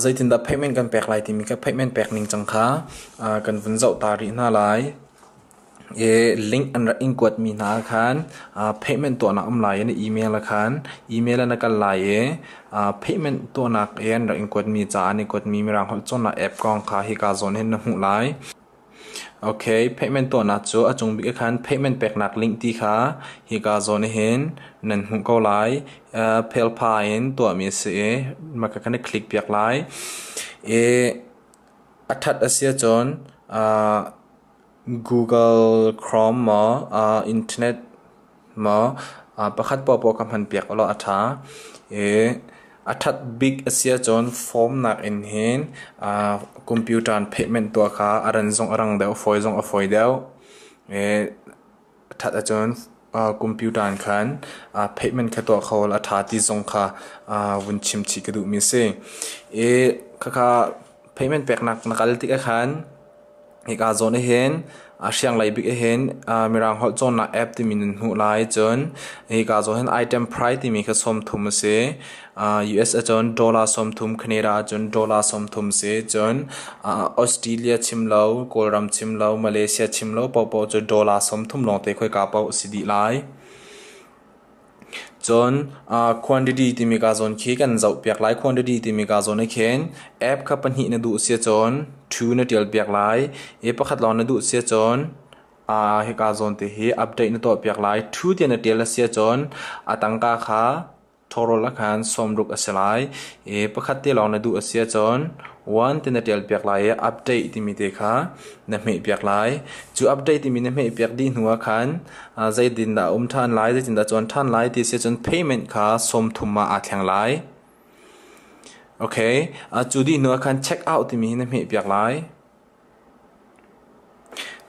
Zeitindah payment kan pek lai timi kan payment pek ningcang kha kan vun zoh ta rih hna lai. Link an rak in kuatmi hna ahkhan payment tuahnak a um lai i na email ahkhan email ah na kal lai i payment tuahnak i an rak in kuatmi ca an i kuatmi Mirang holh cawnnak app kong kha hika zawn hin na hmuh lai. Payment tuahnak cu a cung bik ah khan payment peknak link ti kha hika zawn ah hin nan hmuh ko lai. Phelpha in tuahmi a si i hmaka kan i click piak lai. I a ṭhat a si ahcun Google Chrome maw internet Maw pakhat poahpoah ka hmanpiak ulaw a ṭha. I a ṭhat bik a si ahcun form nakin hin computer in payment tuah kha a ran zong a rang deuh, a fawi zong a fawi deuh. I a ṭhat ahcun computer in khan payment kha tuah kho ulaw a ṭha ti zong kha vun chimchih ka duhmi a si. I khakha payment peknak na kal tikah khan Hika zawn ahhin hrianglei bik ahhin Mirang holh cawnnak app timi nan hmuh lai. Cun hika zawn hin item price timi kha sawmthum a si. US ahcun dollar sawmthum, Canada ahcun dollar sawmthum a si. Cun Australia chim lo, Kawlram chim lo, Malaysia chim lo paohpaoh cu dollar sawmthum lawngte khoi kaa paoh a si dih lai. Cun quantity timi kaa zawn khi kan zohpiak lai. Quantity timi kaa zawn ahkhin app kha pahnih na duh a si ahcun two na ṭialpiak lai. I pakhat lawng na duh a si ahcun hi kaa zawn te hi update na tuahpiak lai. Two tiah na ṭial a si ahcun a tangka kha total ahkhan sawmruk a si lai. I pakhat te lawng na duh a si ahcun One ti na ṭial piak lai i update timi te kha na hmeh piak lai. Cu update timi na hmeh piak dih hnu ah khan uh, zeitindah a um ṭhan lai, zeitindah a cawn ṭhan lai ti si cun payment kha sawmthum ah aa thleng lai. Okay, uh, cu dih hnu ah khan check out timi hi na hmeh piak lai.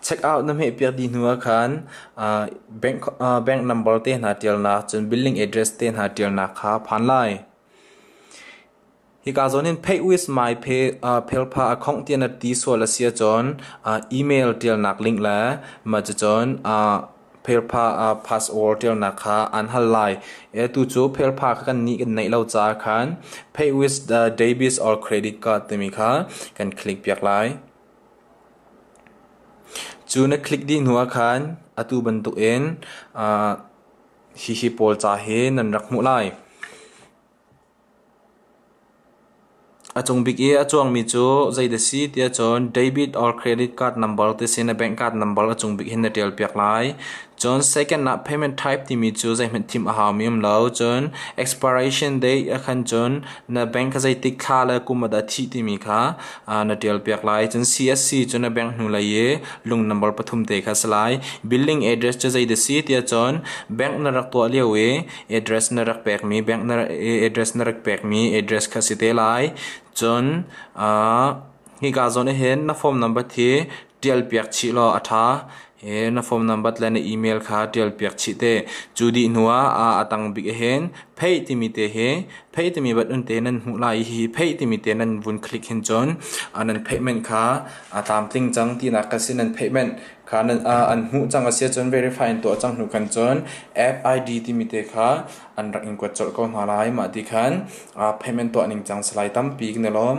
Check out na hmeh piak dih hnu ah khan uh, bank, uh, bank number te hna ṭialnak cun building address te hna ṭialnak kha phan lai. Hika zawn in Pay with My Phelpha a khongh tiah na ti sual a si ahcun email ṭialnak link le mah cucun Phelpha password ṭialnak kha aan hal lai. Tucu Phelpha kha kannih kan neih lo caah khan Pay with Debit or Credit Card timi kha kan click piak lai. Cu na click dih hnu ah khan atu bantuk in hihi pawl ca hi nan rak hmuh lai. A cung bik i a cuangmi cu zeidah a si tiah cun debit or credit card number ti a si i na bank card number a cung bik hin na ṭialpiak lai. Cun second ah payment type timi cu zeihmanh thimh a haumi a um lo. Cun expiration date ah khan cun na bank kha zeitik thla le kum ah dah a thih timi kha aa na ṭialpiak lai. Cun CSC cu na bank hnulei i lung number pathum te kha a si lai. Building address cu zeidah a si tiah cun bank na rak tuah lio i address na rak pekmi bank na address na rak pekmi address kha si te lai cun ah hika zawn ahhin na form number hi tial piak chih law a ṭha he na form number le na email kha tial piak chih te cu dih hnu ah a tang bik ahhin pay timi te hi pay timi bat un te nan hmuh lai i hi pay timi te nan vun click hin cun a nan payment kha a tlam tling cang tinak ka si nan payment Kha nan ah an hmuh cang a si ahcun verify in tuah cang hnu khan cun FID timi te kha an rak in kuat colh ko hna lai. Mah ti khan payment tuah ning cang si lai tampi ne lawm.